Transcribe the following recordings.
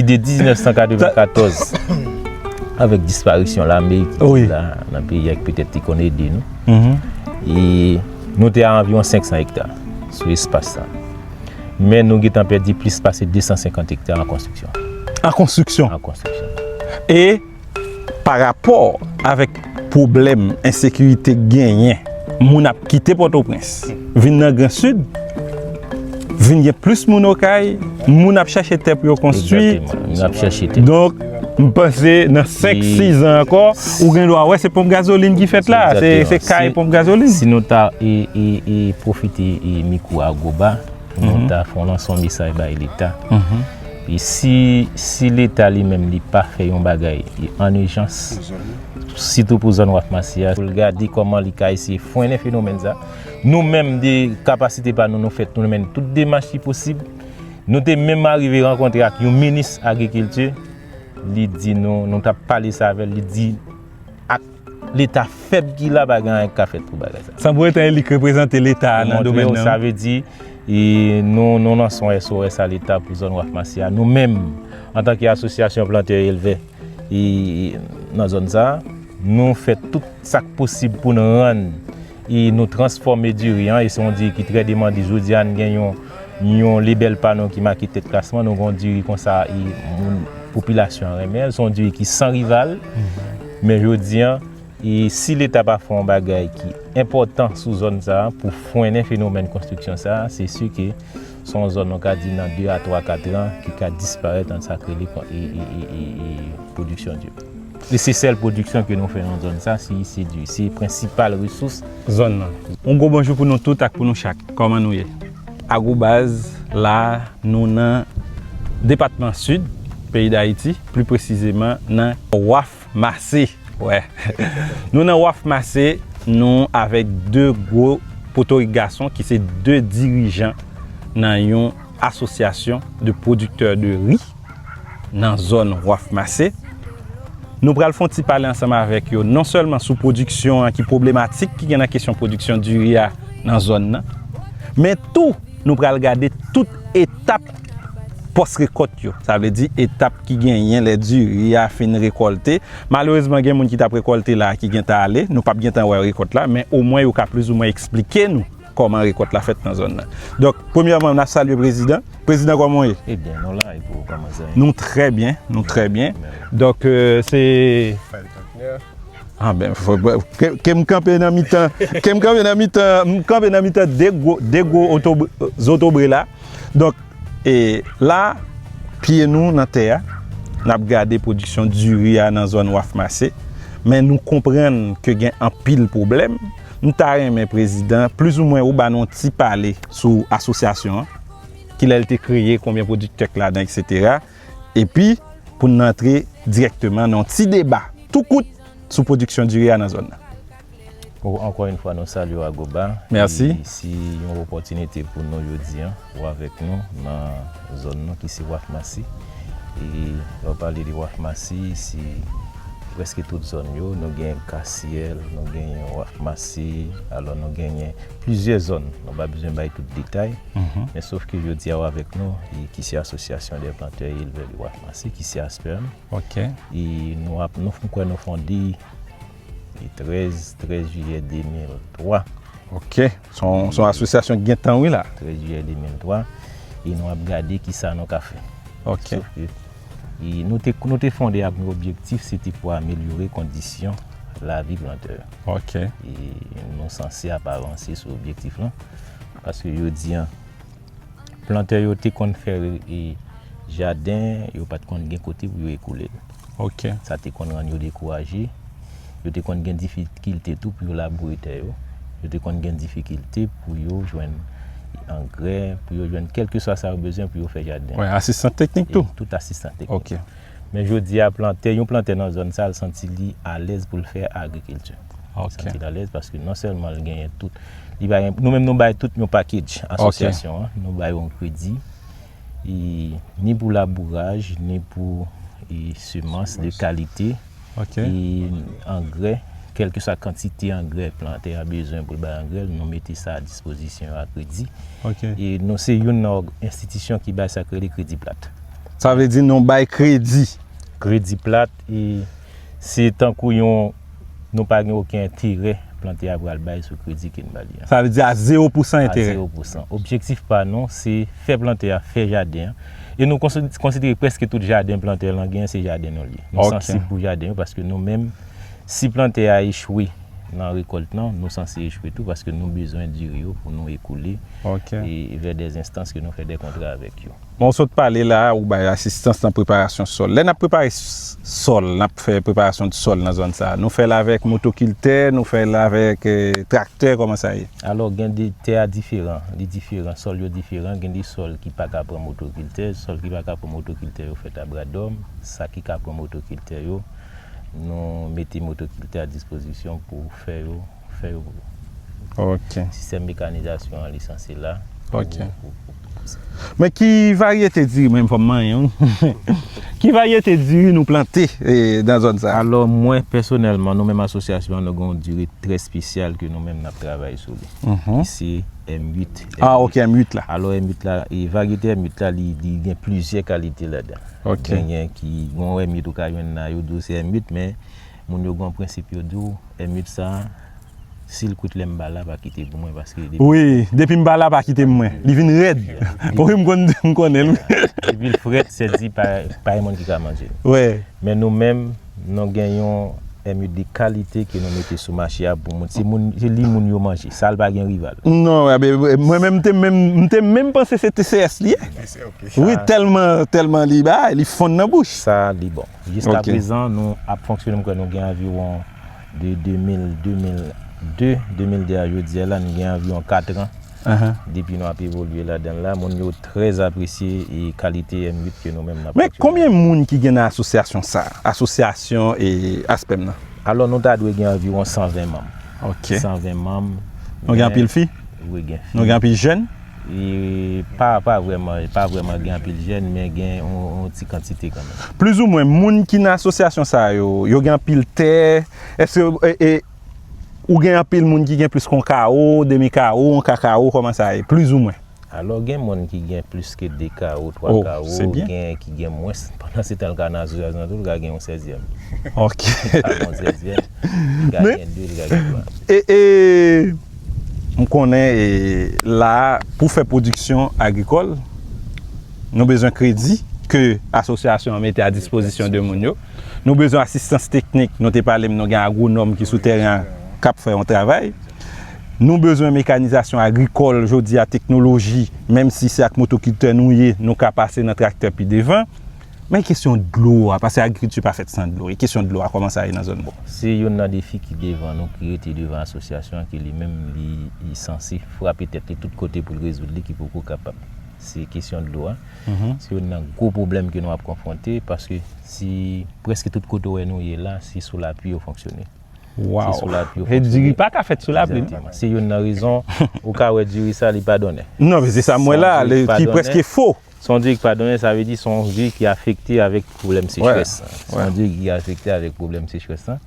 pati de 1994 avèk disparisyon lame ki te la nan peyi ak petèt te konn ede nou e nou te a anviron 500 ekta sou espas sa men nou gen tan pèdi plis pase 250 ekta an konstriksyon an konstriksyon an konstriksyon e Pa rapò avèk pwoblèm ensekirite k genyen, moun ap kite Pòtoprens vin nan Gran Sid, vin gen plis moun Okay, moun ap chache tè pou yo konstwi. Donk, m panse nan 5, 6 zan ankò, ou gen dwa wè se ponp gazolin ki fèt la, se kay ponp gazolin. Si nou ta pwofite mikwo Agoba, nou ta fè yon lanse yon mesaj bay Leta. Si leta li menm li pa fè yon bagay an ijans, sitou pou zòn waf masi a, pou l gade kòman li ka eseye fwennen fenomèn sa, nou menm de kapasite pa nou nou fèt pou nou mennen tout demach ki posib, nou te menm arive rankontre ak yon minis agrikilti, li di nou, nou t ap pale sa avè l, li di. ak leta fèb ki la pa gen anyen ki ka fèt pou bagay sa. San pou etan elik reprezante leta a nan domèn nan. Sa vle di nou lanse yon SOS a leta pou zòn waf masi a. Nou menm antan ke asosyasyon plantè e elvè nan zòn sa nou fè tout sak posib pou nou rann. e nou transfòme diri an e se yon diri ki trè demande jodi a nou gen yon yon lebèl pa nou ki make tèt klasman nou gen yon diri konsa e moun popilasyon an renmen l se yon diri ki san rival men jodi a e si leta pa fè yon bagay ki enpòtan sou zòn sa pou frennen fenomèn konstriksyon sa se si ke Se yon zòn nou ka di nan 2 a 3 ka tran ki ka disparèt an sa k rele pwodiksyon diri. E se sèl pwodiksyon ke nou fè nan zòn sa, si se diri. Se prensipal resous zòn nan. Yon gwo bonjou pou nou tout ak pou nou chak. Kòman nou ye? Agrobaz, la a nou nan depatman Sid peyi Dayiti, pli presizeman nan Waf. Mase wè Nou nan waf mase Nou avèk 2 gwo potorik gason ki se 2 dirijan nan yon asosyasyon de pwodiktè de ri nan zòn waf mase Nou pral fon ti pale ansanm avèk yo non sèlman sou pwodiksyon an ki pwoblematik ki gen nan kesyon pwodiksyon diri a nan zòn nan men tou Nou pral gade tout etap Pòs-rekòt yo, sa vle di etap ki genyen lè diri a fin rekòlte. Malerezman gen moun ki t ap rekòlte la ki gen tan ale. Nou p ap gen tan wè rekòt la, men omwen yo ka plizoumwen eksplike nou kòman rekòt la fèt nan zòn nan. Donk, premyèman, n ap salye prezidan. Prezidan, kòman ou ye? Ebyen, nou la, epi ou, kòman sa ye? Nou trè byen, nou trè byen. Donk, se. Fadel Cantner. A ben, ke m kanpe nan mitan, ke m kanpe nan mitan, m kanpe nan mitan de gwo, de gwo zotobre la. Donk, e la, pye nou nan tè a, n ap gade pwodiksyon diri a nan zòn Waf Mase, men nou konprann ke gen anpil pwoblèm. M ta renmen prezidan, plizoumwen ou ba nou yon ti pale sou asosyasyon an, ki lè l te kreye, konbyen pwodiktè k ladan, eksetera. Epi, pou n antre dirèkteman nan yon ti deba tou kout sou pwodiksyon diri a nan zòn nan. Ou ankò yn fwa nou salye w Agoba Merci. e si yon opòtinite pou nou jodi an ou avèk nou nan zòn nou ki se Waf Masi e lè w pale de Waf Masi se prèske tout zòn yo nou gen Kasyèl nou genyen Waf Masi alò nou genyen plizyè zòn nou pa bezwen bay tout detay men sof ke jodi a ou avèk nou e ki se Association des Planteurs et Éleveurs de Waf Masi ki se Aspern e nou ap nou kwè nou fonde Li 13, 13 jiyè 2003. Ok, son asosyasyon ki gen tan wi la. 13 jiyè 2003, e nou ap gade ki sa nou ka fè. Ok. Sof ke, nou te fonde ak yon objektif, se te pou amelyore kondisyon lavi plantè yo. Ok. E nou sanse ap avanse sou objektif lan, paske jodi an, Plantè yo te konn fè jaden, yo pa t konn gen kote pou yo ekoule l. Sa te konn rann yo dekouraje. Yo te konn gen difikilte tou pou yo laboure tè yo. Yo te konn gen difikilte pou yo jwenn angrè, pou yo jwenn kèlkeswa sa yo bezwen pou yo fè jaden. Asistan teknik tou? Tout asistan teknik. Men jodi a plantè, yon plantè nan zòn sa l santi li alèz pou l fè agrikilti. Li santi l alèz paske non sèlman l genyen tout, li bay, nou menm nou bay tout yon pakedj asosyasyon an, nou bay yon kredi ni pou labouraj, ni pou semans de kalite. e angrè, kèlkeswa kantite angrè plantè a bezwen pou l bay angrè l, nou mete sa a dispozisyon yo a kredi. E nou se youn nan enstitisyon ki bay sa k rele kredi plat. Sa vle di nou bay kredi? Kredi plat, e se tankou yon, nou pa gen oken enterè plantè a pral bay sou kredi ke n ba li a. Sa vle di a zewo pousan enterè? A zewo pousan. Objektif pa nou, se fè plantè a fè jaden an. E nou konsidere preske tout jaden plantè lan gen se jaden nou li ye. Nou sansib pou jaden yo paske nou menm si plantè a echwe nan rekolt lan, nou sanse echwe tou paske nou bezwen diri yo pou nou ekoule vè de enstans ke nou fè de kontra avèk yo. Bon ou sot pale la ou bay asistans nan preparasyon sòl. Lè nap prepare sòl, nap fè preparasyon sòl nan zòn sa, nou fèl avèk motokiltè, nou fèl avèk traktè, kòman sa ye? Alò, gen de, tè a diferan, li diferan, sòl yo diferan, gen de sòl ki pa ka pran motokiltè, sòl ki pa ka pran motokiltè yo fèt a bra dòm, sa ki ka pran motokiltè yo, nou mete motokiltè a dispozisyon pou fè yo, fè yo, sistèm mekanizasyon an lisanse la, pou. Men ki varyete diri mwen fòm manyen wi. Ki varyete diri nou plante nan zòn sa? Alò mwen pèsonèlman nou menm asosyasyon an nou gen yon diri trè spesyal ke nou menm nap travay sou li. Ki se M8. A ok M8 la. Alò M8 la e varyete M8 la li gen plizyè kalite ladan. Ok. Genyen ki gon M8 ou ka jwenn la yo di w se M8 men moun yo gen yon prensip yo di w M8 sa. Sil kout lèm pa la pa kite pou mwen paske depi Wi depim pa la pa kitem mwen li vin rèd wi m konnenl wi depil frèt sè di pa gen moun ki ka manjel men nou menm nou gen yon MU de kalite ke nou mete sou mache a pou moun se li moun yo manje sal pa gen rival mwen menm m te menm panse se TCS li ye wi tèlman li bay li fonn nan bouch sa li bon jiska prezan nou ap fonksyone m kwè nou gen anviwon De 2000, 2002, 2002 a jodi a la nou gen anviwon 4 tran depi nou ap evolye ladan l la. Moun yo trè apresye e kalite M8 ke nou menm n ap pwodui. Men konbyen moun ki gen nan asosyasyon sa a, asosyasyon e Aspèm nan? Alò nou ta dwe gen anviwon 120 manm. Ok. 120 manm. Nou gen anpil fi? Wi gen fi. Nou gen anpil jèn? Pa pa vrèman, pa vrèman gen anpil jèn men gen yon ti kantite kan menm. Plizoumwen moun ki nan asosyasyon sa yo, yo gen anpil tè, èske e ou gen anpil moun ki gen plis kon kawo, demi kawo, yon ka kawo kòman sa ye? Plizoumwen. Alò gen moun ki gen plis ke 2 kawo, 3 kawo, gen ki gen mwens, pandan se tan l ka nan asosyasyon tou l ka gen yon sèzyèm. Ok. L ka gen yon sèzyèm, l ka gen 2, l ka gen 3. E e. M konnen la a pou fè pwodiksyon agrikòl, nou bezwen kredi ke asosyasyon an mete a dispozisyon de moun yo. Nou bezwen asistans teknik, nou te pale m nou gen agwonòm ki sou tèren an k ap fè yon travay. Nou bezwen mekanizasyon agrikòl jodi a, teknoloji, menm si se ak motokiltè nou ye, nou ka pase nan traktè pi devan. Men kesyon dlo a, pase agrikilti pa fèt san dlo, e kesyon dlo a kòman sa ye nan zòn nou? Se youn nan defi ki devan nou, ki rete devan asosyasyon an ke li menm li sanse frape tèt li tout kote pou l rezoud li ki poko kapab. Se kesyon dlo a. Se youn nan gwo pwoblèm ke nou ap konfwonte paske si preske tout kote ou wè nou ye la, se sou lapli yo fonksyone. Waw! Se diri pa ka fèt sou lapli. Se youn nan rezon ou ka wè diri sa li pa donnen. Non men se sa m wè la, li preske fo. Son djig pa donnen sa vle di son djig ki afekte avèk pwoblèm sechrès lan. Son djig ki afekte avèk pwoblèm sechrès lan,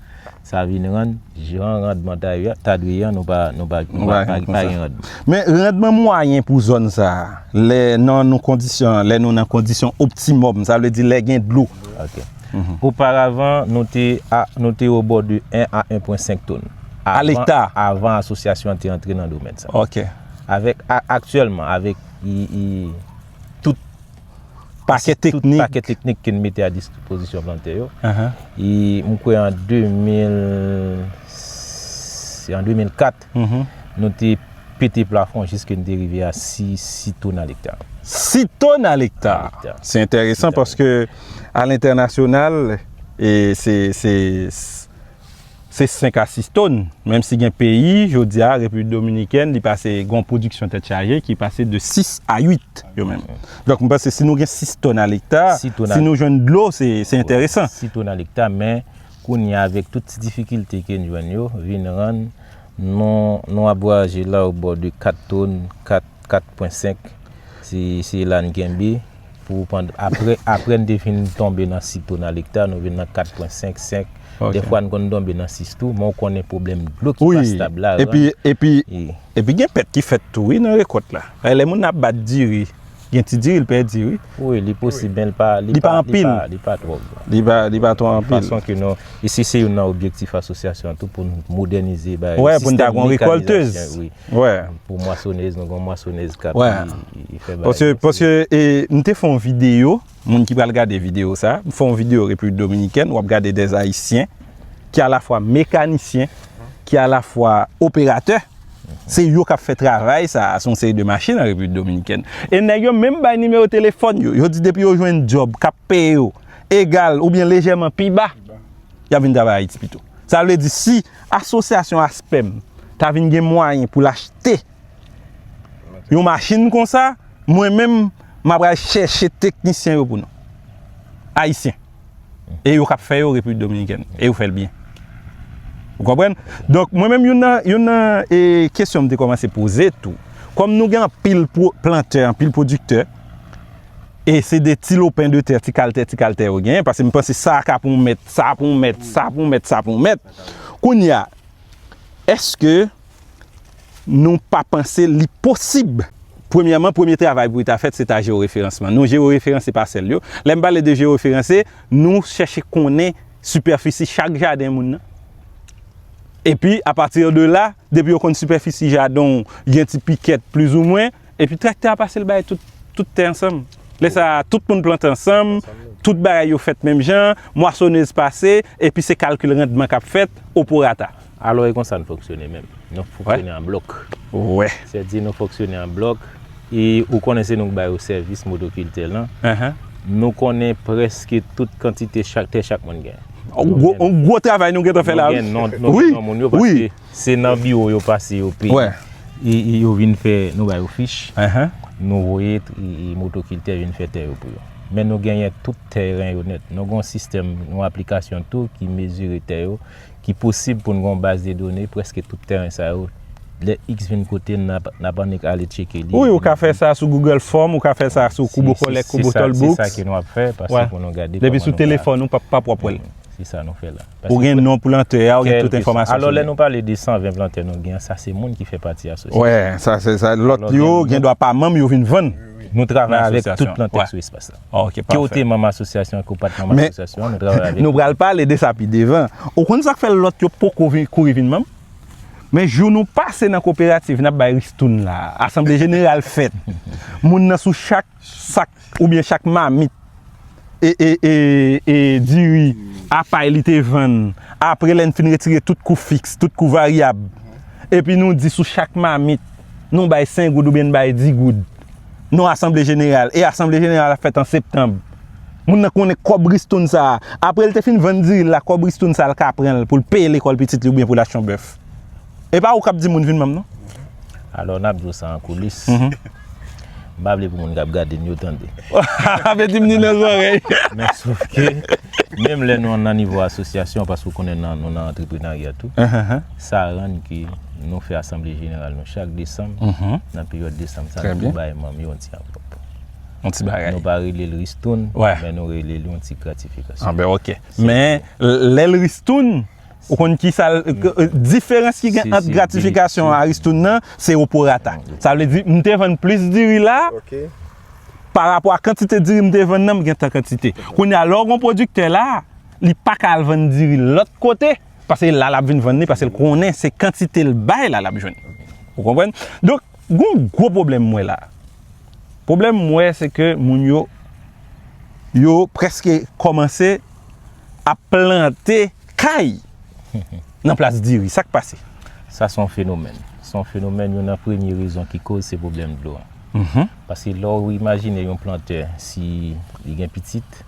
sa vin rann jan randman ta dwe ye an nou pa gen randman. Men randman mwayen pou zòn sa a, lè nan nou kondisyon, lè nou nan kondisyon optimòm, sa vle di lè gen dlo. Ok. Oparavan nou te a, nou te o bò de 1 a 1 pwen 5 tonn. A lekta. Avan asosyasyon an te antre nan domèn sa. Ok. Avèk aktyèlman, avèk. tout pakè teknik ke n mete a dispozisyon plantè yo. E mwen kwè an 2004, nou te pete plafon jiske n te rive a 6 ton a lekta. 6 ton a lekta! Se enteresan paske a lentènasyonal, Se 5 a 6 tòn, menm si gen peyi, jodi a, Repiblik Dominikèn, li pase gon pwodiksyon tèt chaje ki pase de 6 a 8 yo menm. Donk, m panse si nou gen 6 tòn alekta, si nou jwenn dlo, se enteresan. 6 tòn alekta, men kounye a avèk tout ti difikilte ke n jwenn yo, vin rann nou ap vwayaje la obò de 4 tòn, 4, 4 pwen 5, se la n kenbe. Apre n te fin tonbe nan sik tou nan lekta, nou vin nan 4 pwen 5, 5. Defwa n konn tonbe nan 6 tou, men w konnen pwoblèm dlo ki pa stab la. Epi gen pèt ki fèt tou wi nan rekòt la. Lè moun ap bat diri, gen ti diri l pèdi wi. Wi, li posib men li pa anpil. Li pa twòp. Li pa twòp anpil. Fason ke nou, e se se yon nan objektif asosyasyon an tou pou nou modènize. Wè, pou n ta gon rekòltez. Pou mwasonez, nou gen yon mwasonez kap vini fè bagay sa. Paske m te fè yon videyo, moun ki pral gade videyo sa, m fè yon videyo Repiblik Dominikèn, wap gade 2 ayisyen ki alafwa mekanisyen, ki alafwa operatè, se yo kap fè travay sa, se yon seri de machin an Repiblik Dominikèn. E nèg yo menm bay nimewo telefòn yo, yo di depi yo jwenn djòb kap peye yo egal oubyen lejèman pi ba, yap vin travay Ayiti pito. Sa vle di si. Asosyasyon Aspem ta vin gen mwayen pou l achte yon machin konsa, mwen menm m ap al chèche teknisyen yo pou nou. Ayisyen. E yo k ap fè yo Repiblik Dominikèn. E yo fè l byen. Ou konprann? Donk, mwen menm youn nan kesyon m te kòmanse poze tou, kòm nou gen anpil plantè, anpil pwodiktè, E se de ti lopen de tè, ti kal tè, ti kal tè yo genyen. Pase m panse sa ka pou mèt, sa pou mèt, sa pou mèt, sa pou mèt. Kounye a, eske nou pa panse li posib? Premyèman, premye travay pou li ta fèt, se ta jeworeferanseman. Nou jeworeferanse pasèl yo. Lè m pale de jeworeferanse, nou chèche konnen sipèfisi chak jaden moun nan. Epi, apati de la, depi yo konn sipèfisi jaden w, gen ti pikèt plizoumwen. Epi traktè a pase l bay tout tè ansanm. Lè sa a, tout moun plante ansanm, tout bagay yo fèt menm jan, mwasonèz pase, epi se kalkil randman k ap fèt oporata. Alò e konsa n fonksyone menm. Nou fonksyone an blòk. Wè. Sè di nou fonksyone an blòk, e ou konnen se nou k bay ou sèvis modokiltè lan. Nou konnen prèske tout kantite tè chak moun gen. Yon gwo travay nou gentan fè la. Nou gen non moun yo paske. Se nan biwo yo pase yo peye. E yo vin fè, nou ba yo fich, nou voye motokiltè vin fè tè yo pou yo. Men nou genyen tout tèren yo nèt. Nou gen yon sistèm, yon aplikasyon tou ki mezire tè yo, ki posib pou nou gen yon baz de done preske tout tèren sa yo. Lè iks vin kote n ap annik ale tcheke li. Wi, ou ka fè sa sou Google Form, ou ka fè sa sou Kubo Collect, Kubo Toll Books. Se sa ke nou ap fè, pase pou nou gade. Depi sou telefòn ou, pa p wap wè l. Se sa nou fè la. Ou gen non plantè a, ou gen tout enfòmasyon sou li. Alò lè nou pale de 120 plantè nou gen an, sa se moun ki fè pati asosyasyon. Wè, sa se sa. Lòt yo gen dwa pa manm, yo vin vann nan asosyasyon an. Nou travay avèk tout plantè sou espas la. Ok, pafè. Ke ou te manm asosyasyon an, ke ou pa te manm asosyasyon an, nou travay avèk ou. Nou pral pale de sa pi devan. Ou konn sa k fè lòt yo poko kouri vin manm? Men jou nou pase nan koperativ n ap bay ristoun la a, asanble jeneral fèt, moun nan sou chak. sak oubyen chak mamit diri a pay li te vann apre lè n fin retire tout kou fiks, tout kou varyab epi nou di sou chak mamit nou bay 5 goud oubyen n bay 10 goud nan asanble jeneral e asanble jeneral la fèt an septanb moun nan konnen kòb ristoun sa a apre l te fin vann diri l la kòb ristoun sa a l ka pran l pou l peye lekòl pitit li oubyen pou l achte yon bèf E pa ou kap di moun vin manm non. Alò nap diw sa an koulis. M pa vle pou moun kap gade n yo tande. Apeti m ni nan zòrèy. Men sof ke menm lè nou nan nivo asosyasyon paske ou konnen nou nan antreprenarya tou. Sa rann ke nou fè asanble jeneral nou chak desanm. Nan peryòd desanm sa nou bay manm yo yon ti anvlòp. Yon ti bagay. Nou pa rele l ristoun. Wè. Men nou rele l yon ti gratifikasyon. Anben ok. Men lè l ristoun Ou konn kisa l, diferans ki gen ant gratifikasyon a ristoun nan, se o prorata. Sa vle di, m te vann plis diri la, pa rapò a kantite diri m te vann nan, m gen tan kantite. Kounye a, lè w gen yon pwodiktè la, li pa ka al vann diri l lòt kote, pase la l ap vin vann li, pase l konnen se kantite l bay la l ap jwenn. Ou konprann? Donk, gen yon gwo pwoblèm m wè la. Pwoblèm m wè se ke moun yo, yo prèske kòmanse ap plante. Kay! Nan plas diri. Sa k pase? Sa se yon fenomèn. Se yon fenomèn, yon nan premye rezon ki koz se pwoblèm dlo a. Paske lè ou imajine yon plantè si li gen pitit,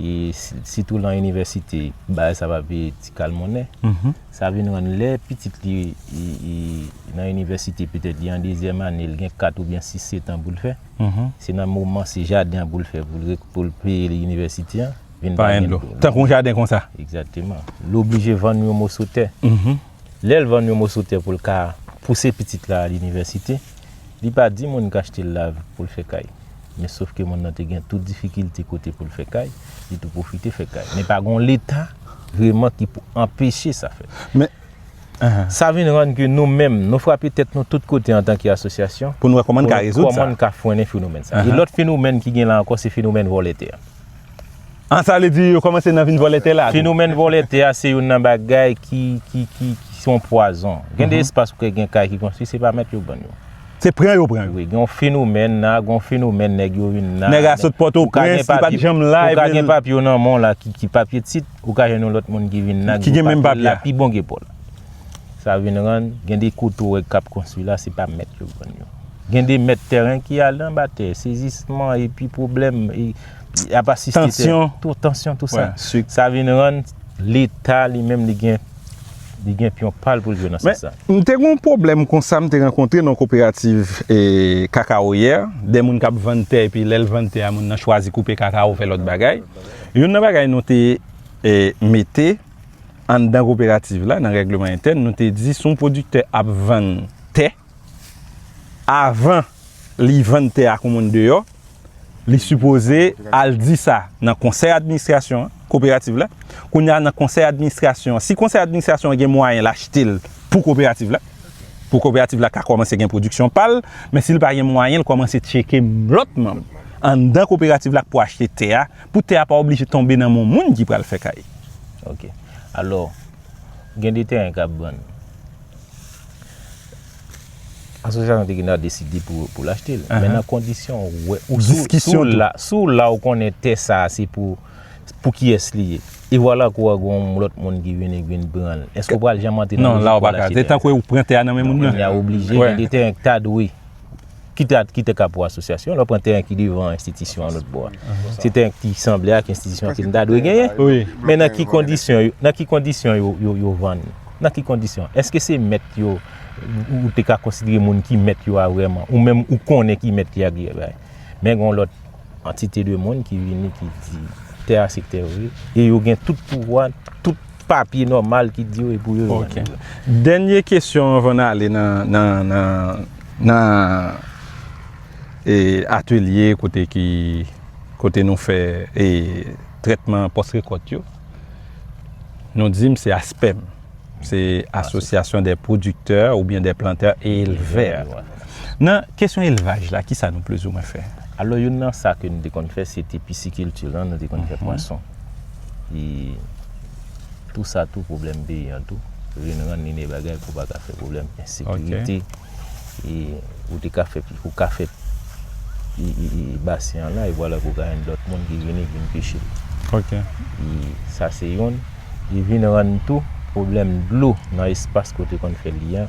e sitou lan inivèsite, bagay sa va veye ti kal monnen. Sa vin rann lè pitit li nan inivèsite, petèt li an dezyèm ane, li gen 4 oubyen 6 setan pou l fè, se nan moman se jaden an pou l fè pou l peye inivèsite an. vin pa gen dlo. Tankou yon jaden konsa. Egzakteman. Li oblije vann yon moso tè. Lè l vann yon moso tè pou l ka pouse pitit la al inivèsite, li pa di moun k achte l la pou l fè kay. Men sof ke moun nan te gen tout difikilte kote pou l fè kay, li tou pwofite fè kay. Men pa gen yon Leta vreman ki pou anpeche sa fèt. Men, sa vin rann ke nou menm, nou frape tèt nou tout kote antanke asosyasyon. Pou nou wè kòman n ka rezoud sa. Kòman n ka frennen fenomèn sa. Yon lòt fenomèn ki gen la ankò se fenomèn vòlè tè. An sa vle di yo kòmanse nan vin vòlè tè la tou? Fenomèn vòlè tè a se youn nan bagay ki se yon pwazon. Gen de espas ou kwè gen kay ki konstwi se pa mèt yo ban yo. Se pran yo pran yo? Wi, gen yon fenomèn la, gen yon fenomèn nèg yo vin la. Nèg a sot Pòtoprens, li pa t janm la. Ou ka gen papye w nan men w la ki papye tit, ou ka jwenn yon lòt moun ki vin la. Ki gen menm papye a. Ki pi bon ke pa w. Sa vin rann, gen de kote ou wè k ap konstwi la se pa mèt yo ban yo. Gen de mèt tèren ki ale anba tè, sezisman epi pwoblèm, ap asiste tè. Tansyon. Tansyon tou sa. Sa vin rann leta li menm li gen li gen pyon pa l pou l jwe nan sans sa. Men, m te gen yon pwoblèm konsa m te rankontre nan yon koperativ kakawoyè, de moun k ap vann tè epi lè l vann tè a moun nan chwazi koupe kakawo fè lòt bagay. Youn nan bagay nou te mete anndan koperativ la nan règleman entèn nou te di si yon pwodiktè ap vann tè, Avan li vann tè a kou moun deyò, li sipoze al di sa nan konsèy administrasyon an, koperativ la. Kounye a nan konsèy administrasyon an, si konsèy administrasyon an gen mwayen l achte l pou koperativ la, pou koperativ la ka kòmanse gen pwodiksyon pa l, men si l pa gen mwayen l kòmanse tcheke lòt manm anndan koperativ la k pou achte tè a, pou tè a pa oblije tonbe nan men moun ki pral fè kay. Ok. Alò, gen de tèren k ap vann. Asosyasyon te gen dwa deside pou l achte l. Men nan kondisyon ou wè, si w la ou konnen tè sa a se pou kiyès li ye. E vwala kou a gen yon lòt moun ki vini ki vin pran l. Èske ou pral janm antre nan lojik pou w al achte tè a? Non, la ou pa ka. Se tankou ou pran tè a nan men moun nan. Kounye a ou oblije gen de tèren ki ta dwe. kite ak kite ka pou asosyasyon, lè w pran tèren ki devan enstitisyon an lòt bò a, se tèren ki sanble ak enstitisyon ke n ta dwe genyen. Men nan ki kondisyon, nan ki kondisyon yo vann? Nan ki kondisyon? Eske se mèt yo, ou te ka konsidere moun ki mèt yo a vrèman, ou menm ou konnen ki mèt ki a, men gen yon lòt. Antite de moun ki vini ki di tè a se tè yo ye e yo gen tout pouvwa, tout papye nòmal ki di yo e pou yo yo vann yo. Dènye kesyon anvan n ale nan atelye kote nou fè trètman pòs rekòt yo. Nou di m se aspem. Se asosyasyon dè pwodiktè oubyen dè plantè e elvè. Nan kesyon elvaj la, kisa nou plis ou mwen fè? Alò youn nan sa ke nou te konn fè, se te pisikilti lan, nou te konn fè pwason. E tou sa tou pwoblèm peyi an tou vin rann li ne bagay pou pa ka fè pwoblèm ensekirite. e ou te ka fè ou ka fè e basen an la e vwala ke ou ka jwenn lòt moun ki vini vin peche ok e sa se youn li vin rann tou pwoblèm dlo nan espas ke ou te konn fè li an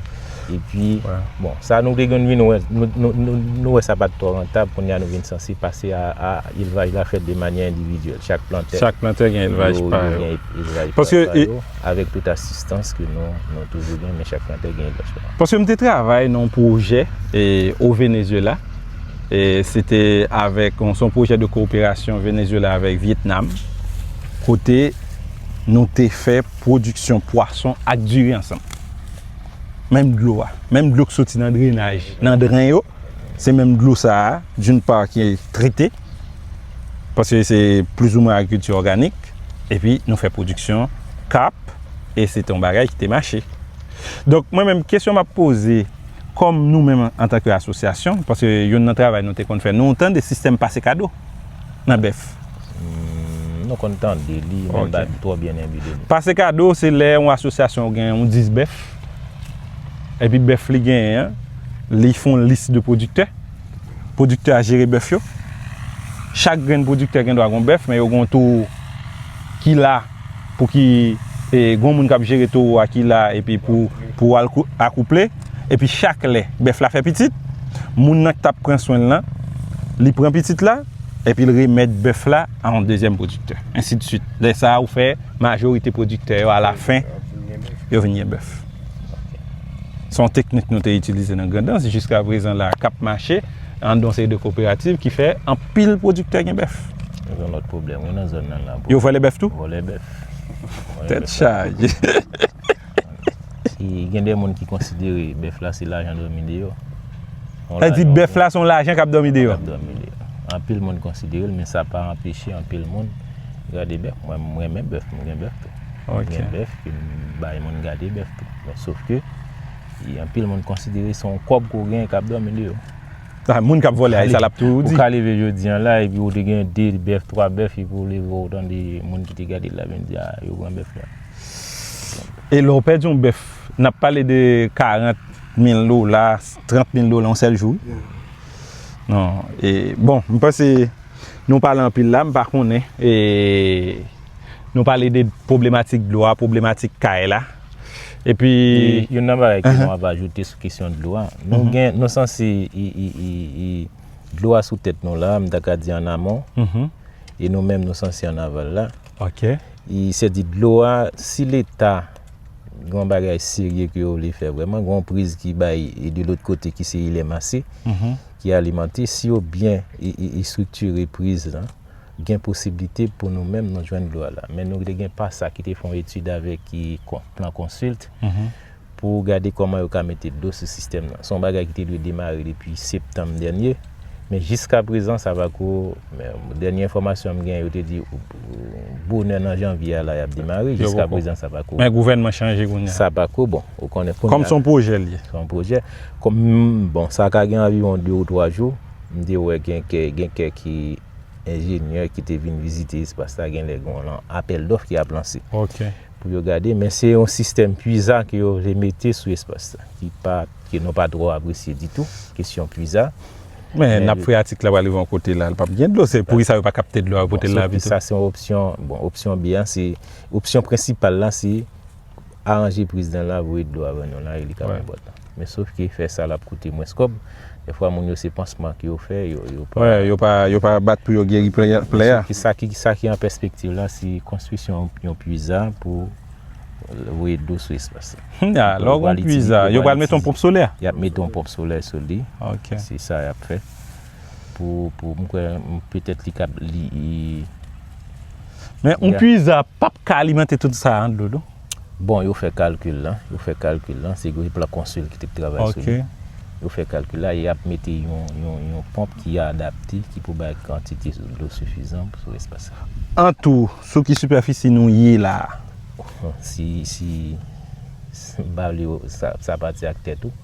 epi bon sa nou te konn vin wè nou wè sa pat twò rantab kounye a nou vin sanse pase a elvaj la fèt de manyè endividyèl chak plantè chak plantè gen elvaj pa yo paske Avèk tout asistans ke nou nou toujou gen men chak chantè gen lòt chwa. Paske m te travay nan yon pwojè o Venezuela e se te avèk se yon pwojè de koperasyon Venezuela avèk Vietnam kote nou te fè pwodiksyon pwason ak diri ansanm. Menm dlo a, menm dlo ki soti nan drenaj, nan dren yo, se menm dlo sa a d'une part ki trete. Paske se plizoumwen agrikilti òganik, epi nou fè pwodiksyon kap, e se te yon bagay ki te mache. Donk mwen menm kesyon m ap poze, kòm nou menm antanke asosyasyon, paske youn nan travay nou te konn fè, nou tande sistèm pase kado nan bèf. Nou konn tande li, men m pa twò byen enbi de li. Pase kado se lè yon asosyasyon gen yon 10 bèf, epi bèf li genyen an, li fè yon lis de pwodiktè. pwodiktè a jere bèf yo. Chak grenn pwodiktè gen dwa gen yon bèf, men yo gen yon towo ki la pou ki, e gen yon moun k ap jere towo a ki la epi pou al akouple. Epi chak lè bèf la fè pitit, moun nan k t ap pran swen l lan, li pran pitit la epi l remèt bèf la a yon dezyèm pwodiktè. Ensidsuit. Lè sa a ou fè majorite pwodiktè yo alafen yo vin gen bèf. Se yon teknik nou te itilize nan Grandans, jiska prezan la k ap mache an don seri de koperativ ki fè anpil pwodiktè gen bèf. Yo gen lòt pwoblèm wi nan zòn nan la. Yo vòlè bèf tou? Vòlè bèf. Tèt chaje. Gen de moun ki konsidere bèf la se lajan dòmi deyò. Sa vle di bèf la se yon lajan k ap dòmi deyò? K ap dòmi deyò. Anpil moun konsidere l men sa pa anpeche anpil moun gade bèf. Mwen m renmen bèf, m gen bèf tou. Mwen gen bèf ke m bay moun gade bèf tou. Men sof ke, anpil moun konsidere se yon kòb ke w genyen k ap dòmi deyò. Sa moun k ap vòlè a, e sa l ap toujou di. Ou ka leve jodi an la, epi ou te gen 2 bèf, 3 bèf, epi ou leve ou tande moun ki te gade l la vin di, a, yo pran bèf la. E lè w pèdi yon bèf, n ap pale de 40 mil dola, 30 mil dola yon sèl jou wi. Non, e bon, m panse nou pale anpil la, m pa konnen. Nou pale de pwoblematik dlo a, pwoblematik kay la. E pi... Yon nan bagay ke nou ap ajoute sou kesyon dlo a. Nou gen, nou sanse e dlo a sou tèt nou la, m ta ka di an amon. E nou menm nou sanse an aval la. Ok. E se di dlo a, si leta yon bagay serye ke yo vle fè vreman, yon priz ki bay e de lòt kote ki se Ilemasi, ki alimante, si yo byen e estriktire priz la, gen posiblite pou nou menm nou jwenn dlo a la. Men nou te gen pasa ki te fè yon etid avèk Plan Consult pou gade kòman yo ka mete dlo sou sistèm nan. Se yon bagay ki te dwe demare depi septanm dènye, men jiska prezan sa pa ko, dènye enfòmasyon m gen yo te di bonè nan janvye a la y ap demare, jiska prezan sa pa ko. Men gouvènman chanje kounye a. Sa pa ko bon. Kòm se yon pwojè l ye. Se yon pwojè. Bon sa ka gen anviwon 2 ou 3 jou. M te wè gen gen kèk enjenyè ki te vin vizite espas la gen lè gon lan apèl dòf ki ap lanse. Ok. Pou yo gade men se yon sistèm pwiza ke yo vle mete sou espas la ki pa ke nou pa twò apresye ditou kesyon pwiza. Men nap freyatik la pral rive yon kote la li pap gen dlo se poukisa yo pa kapte dlo a yo pote l la pito. Bon sa se yon opsyon bon opsyon byen se opsyon prensipal la se aranje priz dan la voye dlo a ban nou la e li ka pran bòt lan men sof ke fè sa lap koute mwens kòb dèfwa moun yo se pansman ke yo fè yo yo pa bat pou yo geri plè a sa ki an pèspektiv la se konstwisyon yon pwiza pou voye dlo sou espas la lè ou gen yon pwiza yo pral mete yon ponp solè yap mete yon ponp solè sou li se sa yap fè Pou pou m kwè petèt li kab li Men yon pwiza pap ka alimante tout sa an dlo non. Bon yo fè kalkil la, yo fè kalkil la, se gwo plan konsil ki te k travay sou li. Yo fè kalkil la, e ap mete yon ponp ki adapte ki pou bay kantite dlo sifizan sou espas sa. An tou, sou ki sipèfisi nou ye la a? Si si m pale w sa pati ak tè tou.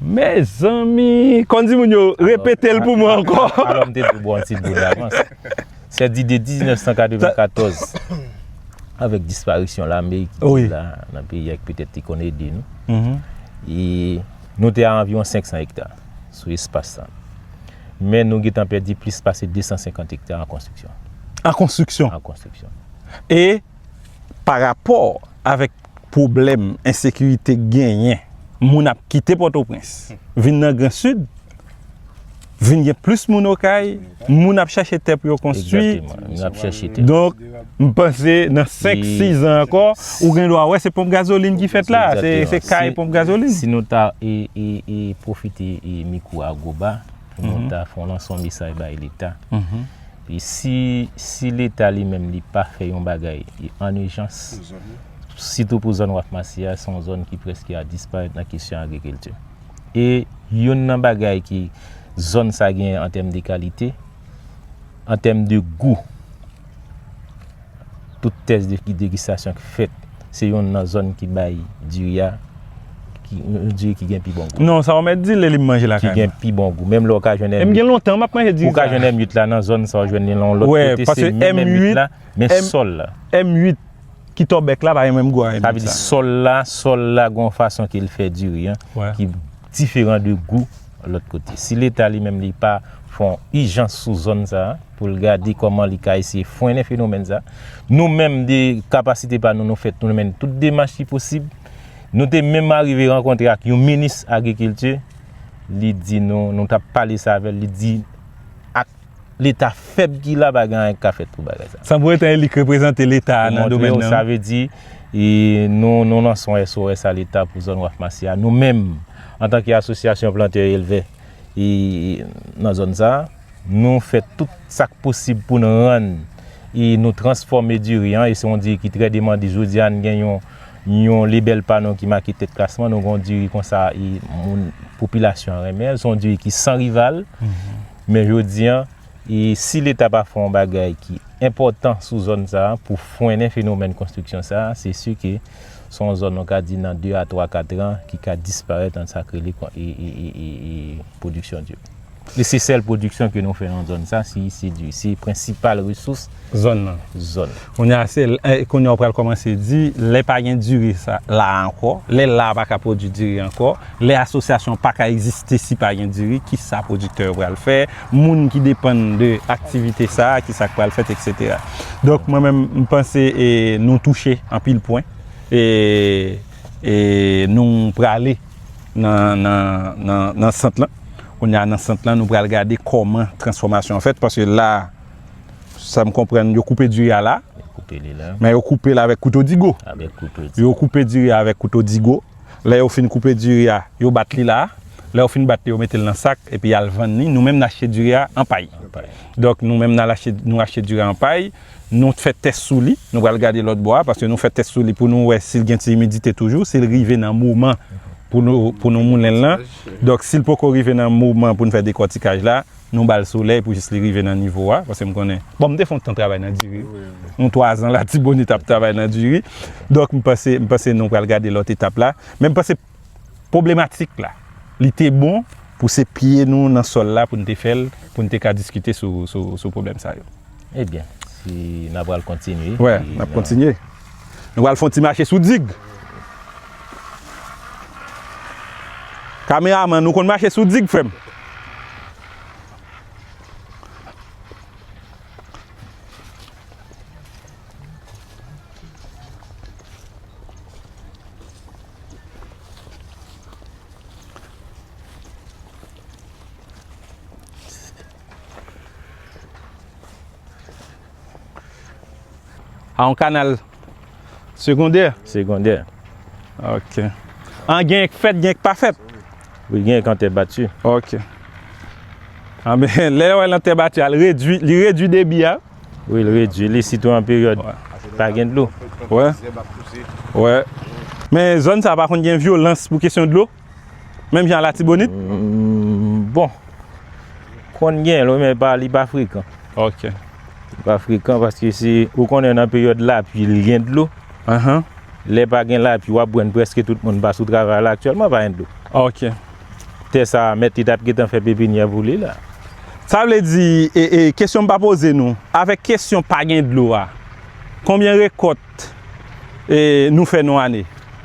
Mezanmi! Kon di moun yo, repetel pou mwen ankò. Alò m te dwe bò yon ti dlo davans. Sè di de 1994, avèk disparisyon lame ki te la nan peyi a ki petèt te konn ede nou, e nou te a anviwon 500 ekta sou espas sa. Men nou gentan pèdi plis pase 250 ekta an konstriksyon. An konstriksyon? An konstriksyon. E? pa rapò avèk pwoblèm ensekirite k genyen, moun ap kite Pòtoprens vin nan Gran Sid, vin gen plis moun Okay, moun ap chache tè pou yo konstwi. Donk, m panse nan 5, 6 an ankò, ou gen dwa wè se ponp gazolin ki fèt la, se kay ponp gazolin. Si nou ta pwofite mikwo Agoba, pou nou ta fè yon lanson mesaj bay Leta. Si si leta li menm li pa fè yon bagay an ijans, sitou pou zòn waf masi a, se yon zòn ki prèske a disparèt nan kesyon agrikilti. E youn nan bagay ki zòn sa genyen an tèm de kalite, an tèm de gou. Tout tès de degustasyon ki fèt, se youn nan zòn ki bay diri a, yon diri ki gen pi bon gou. Non, sa ou mèt di lè li m manje lakay mwen. Ki gen pi bon gou. Menm lè ou ka jwenn M8 la. E m gen lontan m ap manje diri sa. Ou ka jwenn M8 la nan zòn sa ou jwenn li nan yon lòt kote. Wè, pase M8. Se menm M8 la, men sòl la. M8 ki tòbèk la pa gen menm gou a M8 sa. Sa vle di sòl la, sòl la gen yon fason ke l fè diri an. Wè. diferan de gou lòt kote. Si leta li menm li pa fè yon ijans sou zòn sa a pou l gade kòman li ka eseye frennen fenomèn sa a, nou menm de kapasite pa nou nou fèt pou nou mennen tout demach ki posib. Nou te menm arive rankontre ak yon minis agrikilti, li di nou, nou t ap pale sa avè l, li di ak. Leta fèb ki la pa gen anyen ki ka fèt pou bagay sa. San pou etan Eli k reprezante Leta a nan domèn nan. Sa vle di nou nou nan son SOS a Leta pou zòn Waf Masi a. Nou menm antan ke asosyasyon plantè e elvè nan zòn sa a, nou fè tout sa k posib pou nou rann e nou transfòme diri an e se yon diri ki trè demande. Jodi a nou gen yon lebèl pa nou ki make tèt klasman. Nou gen yon diri konsa e moun popilasyon an renmen. Se yon diri ki san rival. Men jodi an, si Leta pa fè yon bagay ki enpòtan sou zòn sa a pou frennen fenomèn konstriksyon sa a, se si ke se yon zòn nou ka di nan de a twa katran ki ka disparèt an sa k rele pwodiksyon di. Li se sèl pwodiksyon ke nou fè nan zòn sa a, si se di. Se prensipal resous Zòn nan. Zòn. Kounye a se, kounye a ou pral kòmanse di, lè pa gen diri sa, la a ankò, lè la a pa ka pwodui diri ankò, lè asosyasyon pa ka egziste si pa gen diri, ki sa pwodiktè yo pral fè, moun ki depann de aktivite sa, ki sa k pral fèt eksetera. Donk mwen menm m panse e nou touche anpil pwen e e nou prale nan nan nan nan sant lan. Kounye a nan sant lan nou pral gade kòman transfòmasyon an fèt paske la a. Sa m konprann, yo koupe diri a la. Yo koupe li la. Men yo koupe l avèk kouto digo. Avèk kouto digo. Yo koupe diri a avèk kouto digo. Lè yo fin koupe diri a, yo bat li la. Lè yo fin bat li, yo mete l nan sak epi y al vann li. Nou menm n achte diri a an pay. An pay. Donk nou menm n al achte, nou achte diri a an pay. Nou fè tès sou li. Nou pral gade lòt bò a paske nou fè tès sou li pou nou wè si l gen ti imidite toujou, si l rive nan moman pou nou moulen l lan. Donk si l poko rive nan moman pou n fè dekòtikaj la, Nou ba l solèy pou jis li rive nan nivo a, paske m konnen, bon m te fè yon tan travay nan diri, yon 3 zan latibonit ap travay nan diri, donk m panse, m panse nou pral gade lòt etap la, men m panse pwoblematik la, li te bon pou se pye nou nan sòl la pou n te fè l, pou n te ka diskite sou, sou, sou pwoblèm sa yo. Ebyen, si n apral kontinye. Wè, n ap kontinye. Nou pral fon ti mache sou dig. Kameraman ou konn mache sou dig frè m? A yon kanal segondè? Segondè. Ok. An gen k fèt, gen k pa fèt? Wi, gen k an tè bati. Ok. An men, lè yo wè l an tè bati a, li redui debi a? Wi, li redui li, sitou an peryòd pa gen dlo. Wè. Wè. Men zòn sa a pa konn gen vyolans pou kesyon dlo? Menm jan latibonit? Bon. Konn gen l wi men li pa frekan. Ok. Li pa frekan paske se ou konnen nan peryòd lapli li gen dlo. Ahan. Lè pa gen lapli wap wè prèske tout moun pa sou travay la aktyèlman pa gen dlo. Ok. Tè sa mèt li tap gentan fè pepinyè pou li la. Sa vle di, kesyon m pa poze nou, avèk kesyon pa gen dlo a, konbyen rekòt t nou fè nou ane.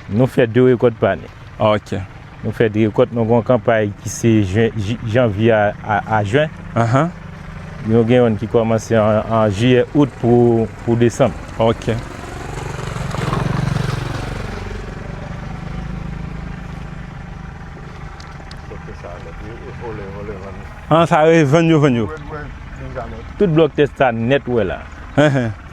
Nou fè de rekòt pa ane. Ok. Nou fè de rekòt, nou gen yon kanpay ki se janvye a jen. Ahan. Nou gen yon ki kòmanse an jiyè, out pou desanm. Ok. An sa yo e vann yo vann yo. Tout blòk tè sa nèt ou wè la.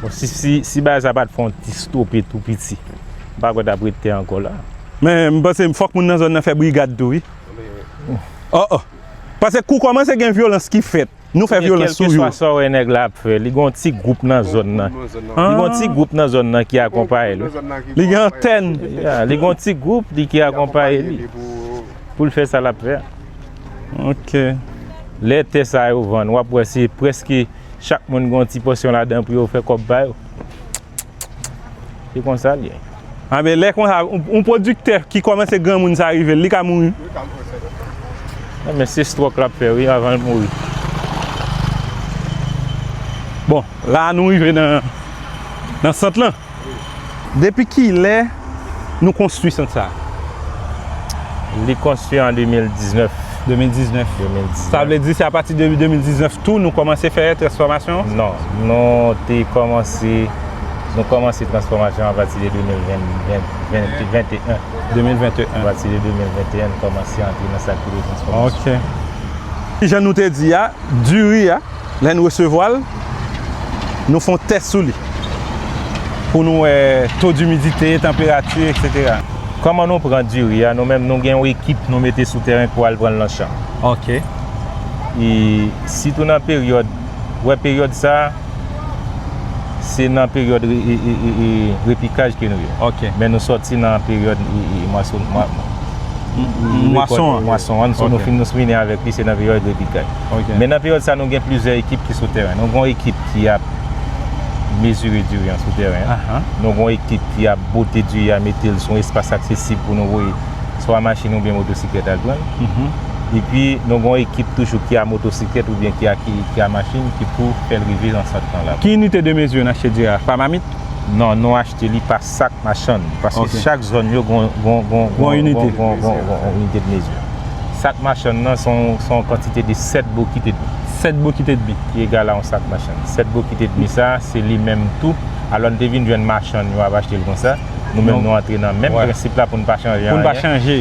Bon si bagay sa pat fon ti stope tou piti. M pa kwè tap rete anko la. Men m panse fok moun nan zon nan fè brigad tou wi. Oh oh. Pase kou komanse gen vyolans ki fèt. Nou fè vyolans sou yo. Kelke swa sa w wè nèg la ap fè. Li gen yon ti gwoup nan zon nan. Li gen yon ti gwoup nan zon nan ki akonpaye li. Li gen antèn. Li gen yon ti gwoup li ki akonpaye li. Pou l fè sa lap fè. Ok. Lè tè sa yo vann wap wè se prèske chak moun gon ti pòsyon ladan pou yo fè kòb pa yo. Se konsa l ye. A men lè konsa yon pwodiktè ki kòmanse granmoun sa rive l li ka mouri. Li ka mouri sèten. A men se stròk lap fè wi avan l mouri. Bon la nou rive nan sant lan. Depi kilè nou konstwi sant sa a? Li konstwi an 2019. 2019. Sa vle di se apati de 2019 tou nou kòmanse fè transfòmasyon? Non. Nou te kòmanse, nou kòmanse transfòmasyon apati de 2021. 2021. Apati de 2021 nou kòmanse antre nan sa ki rele transfòmasyon. Ok. Jan nou te di a, diri a. Lè n resevwa l, nou fè yon tès sou li pou nou wè to dimidite, tanperati, eksetera. Kòman nou pran diri a? Nou menm nou gen yon ekip nou mete sou tèren pou al pran l nan chan. Ok. E sitou nan peryòd, ou wè peryòd sa a, se nan peryòd repikaj ke nou ye. Ok. Men nou sòti nan peryòd mwason an. Mwason an. Mwason an. Ok. Nou fin, nou fini avèk li, se nan peryòd repikaj. Men nan peryòd sa nou gen plizyè ekip ki sou tèren. Nou gen yon ekip ki ap mezire diri an sou tèren. Nou gen yon ekip ki ap bwote diri a, mete l sou yon espas aksesib pou nou voye swa machin oubyen motosiklèt al jwenn. Epi nou gen yon ekip toujou ki a motosiklèt oubyen ki a machin ki pou fè l rive nan sant lan la. Ki inite de mezire n achte diri a? Pa mamit? Non, nou achte li pa Sak machann, paske chak zòn yo gon inite de mezi. Sak machann nan son yon kantite de 7 bokit et demi. 7 bokit et demi. Ki egal a yon sak machann. 7 bokit et demi sa, se li menm tou. Alò n te vin jwenn machann yo ap achte l konsa. Nou menm nou antre nan menm prensip la pou n pa chanje anyen. Pou n pa chanje.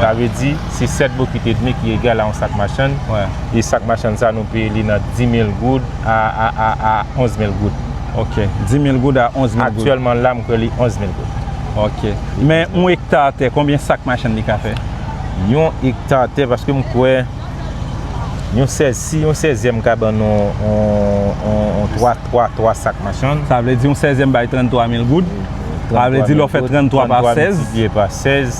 Sa vle di, se 7 bokit et demi ki egal a yon sak machann. E sak machann sa nou peye li nan 10 mil goud a 11 mil goud. Ok. 10 mil goud a 11 mil goud. Aktyèlman la m kwè li 11 mil goud. Ok. Men yon ekta tè konbyen sak machann li ka fè? Yon ekta tè paske m kwè yon sèz si yon sèzyèm ka ban nou yon 3 3 3 sak machann. Sa vle di yon sèzyèm bay 33 mil goud. Sa vle di lè w fè 33 pa sèz. 33 miltipliye pa sèz.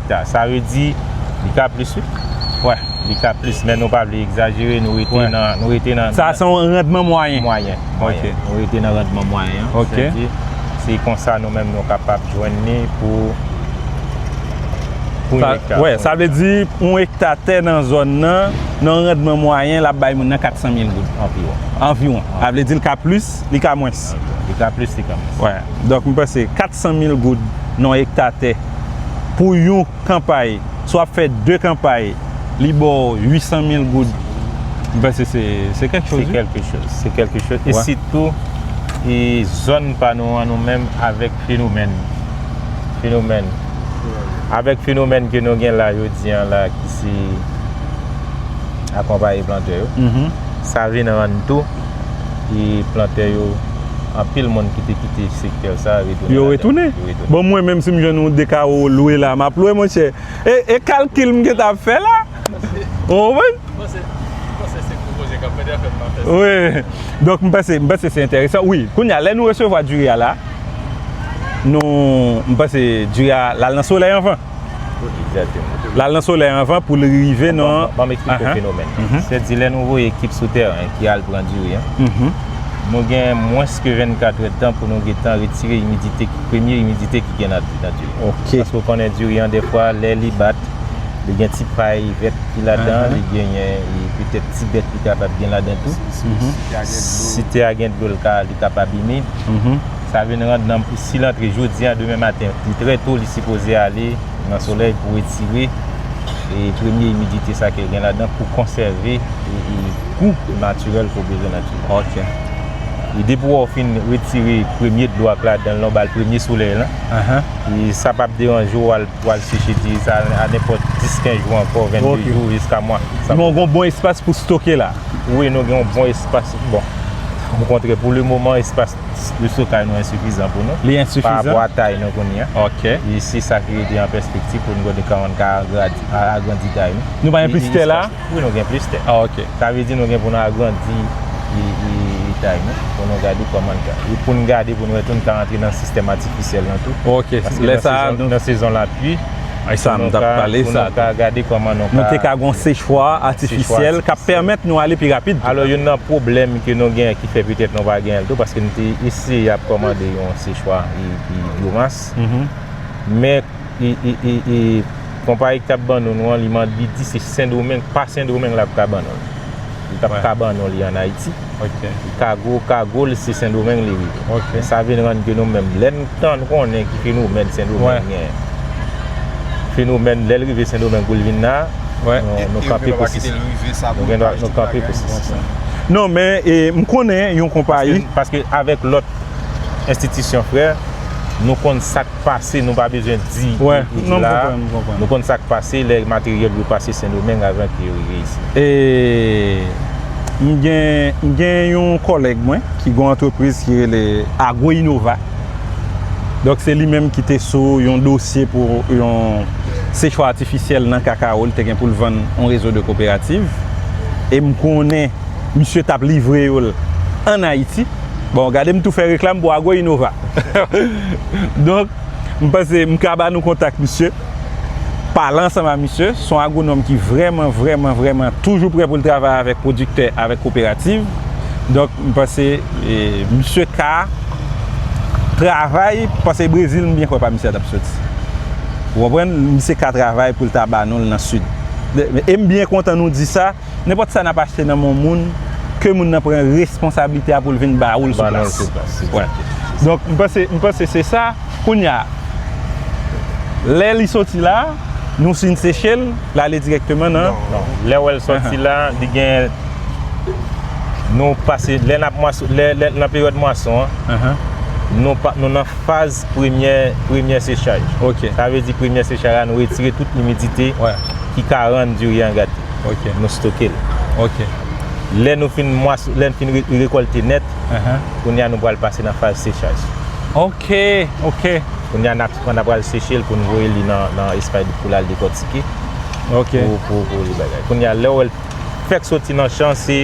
Sa sa ve di li ka plis wi. Wè li ka plis men nou pa vle egzajere nou rete nan nou rete nan Sa se yon randman mwayen. Mwayen mwayen nou rete nan randman mwayen an Ok. Sèke se konsa nou menm nou kapab jwenn li pou pou yon ekta. Wè sa vle di yon ekta tè nan zòn nan nan yon randman mwayen lap bay moun nan 400 mil goud. Anviwon. Anviwon. Sa vle di li ka plis li ka mwens. Anviwon. Li ka plis li ka mwens. Wè donk m panse 400 mil goud nan yon ekta tè. pou yon kanpay, si w ap fè 2 kanpay, li ba w 800 mil goud, m panse se kèk choz wi. Se kèlke choz, se kèlke choz. E sitou, e zòn pa nou an nou menm avèk fenomèn, fenomèn, avèk fenomèn ke nou gen la jodi an la ki se akonpaye plantè yo, sa vin rann tou e plantè yo, anpil moun ki te kite sektè sa a retounen. Yo retounen. Bon mwen menm si m jwenn yon 2 kawo lwe la map lwe monchè e kalkil m gentan ap fè la ou konprann? M panse se gwo koze kap fèt anfen m pa fè sa. Wi donk m panse m panse se enteresan wi kounye a lè nou resevwa diri a la nou m panse diri a lal nan solèy anvan. L al nan solèy anvan pou l rive nan. Atann, ban m eksplike w fenomèn nan. Se di lè nou voye ekip sou tèren ki al pran diri an, nou gen mwens ke 24 èdtan pou nou gen tan retire imidite, premye imidite ki gen nan diri an. Paske ou konnen diri an dèfwa lè li bat, li gen ti pay vèt ki ladan, li genyen petèt ti bèt li kapab gen ladan tou. Si tè a gen dlo li ka abime. Sa vin rand nanm pou sil antre jodi an demen maten li trè to li sipoze ale nan solèy pou retire e premye imidite sa ke gen ladan pou konsève e gou natirèl ke w bezwen nan dlo. Ok. E depi wè w fin retire premye dlo a k ladan lan w ba l premye solèy lan. Ahan. E sa pap deranje w w al seche diri sa a nenpòt 10 15 jou ankò 22 jou jiska mwa. Sa vle di gen bon espas pou stoke la. Wi nou gen yon bon espas bon. Okontrè pou le moman espas. Reso kay nou ensifizan pou nou. Li ensifizan? Pa rapò a tay nou kounye a. Ok. Li si sa ki rete an pèspektif pou nou gade kòman nou ka agradi, agrandi tay nou. Nou pa gen plis tè la? Wi nou gen plis tè. Ah ok. Sa vle di nou gen pou nou agrandi tay nou pou nou gade kòman nou ka. Pou nou gade pou nou wè tou nou ka rantre nan sistèm atifisyèl lan tou. Ok. Lè sa a nou. Paske nan sezon lapli. Pou nou ka gade kòman nou ka. Nou te ka gen yon sechwa atifisyèl k ap pèmèt nou ale pi rapid. Alò youn nan pwoblèm ke nou gen ki fè petèt nou pa genyen l tou paske nou te eseye y ap kòmande yon sechwa byomas. Men konpayi ki t ap ban nou an li di se Sendomeng pa Sendomeng l ap ka ban nou l. Li pap ka ban non li an Ayiti. Ok. Kago, kago l se Sendomeng li rive. Ok. Men sa vin rann ke nou menm, lè n tan konnen ki fenomèn Sendomeng genyen. Wè. Fenomèn lè l rive Sendomeng pou l vin la, Wè. nou kanpe pou sisi. Epi yo pa kite l rive sa pou l pa jwenn bagay pou l pran. Non men, m konnen yon konpayi. Paske avèk lòt enstitisyon frè, nou konn sa k. pase nou pa bezwen di yo toujou la nou konn sak pase lè materyèl yo pase sendomeng avan ke yo rive isit. E m gen yon kòlèg mwen ki gon antrepriz ki rele Agro Inova donk se li menm ki te sou yon dosye pou yon sechwa atifisyèl nan kakawo li te gen pou l vann yon rezo de koperativ e m konnen misye tap livre yo l an Ayiti. Bon, gade m tou fè reklam pou Agro Innova. Donk, m panse m ka ba nou kontak misye. Pale ansanm a misye. Se yon agwonòm ki vrèman, vrèman, vrèman toujou prè pou l travay avèk pwodiktè, avèk koperativ. Donk, m panse misye ka travay, paske Brezil m byen kwè pa misye a t ap soti. Ou konprann? Misye ka travay pou l ta ba nou l nan Sid. E m byen kontan nou di sa. Nenpòt sa nap achte nan men yon moun, ke moun nan pran responsablite a pou l vin ba ou l sou plas. Donk m panse, m panse se sa. Kounye a, lè li soti la, nou fin seche l, l ale dirèkteman nan. Non, lè wè l soti la, li gen, nou pase, lè nap mwason, lè nan peryòd mwason an, nou pa, nou nan faz premyè, premyè sechaj. Sa vle di premyè sechaj la nou retire tout imidite ki ka rann diri an gate. Ok. Nou stoke l. Ok. Lè nou fin mwas, lè n fin rekolte nèt, kounye a nou pral pase nan faz sechaj. Ok. Ok. Kounye a nap pran, nap pral seche l pou n voye li nan espay pou l al dekòtike. Ok. Pou li bagay. Kounye a lè w wè l fèk soti nan chan se.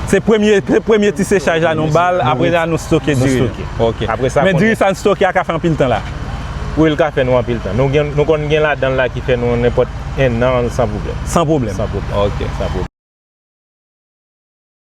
Se premye, se premye ti sechaj la nou ba l, apre sa nou stoke diri. Nou stoke. Ok. Apre sa. Men diri sa n stoke a ka fè anpil tan la. Wi l ka fè nou anpil tan. Nou konn gen ladan l la ki fè nou nenpòt. 1 an san pwoblèm. San pwoblèm? San pwoblèm. Ok. San pwoblèm.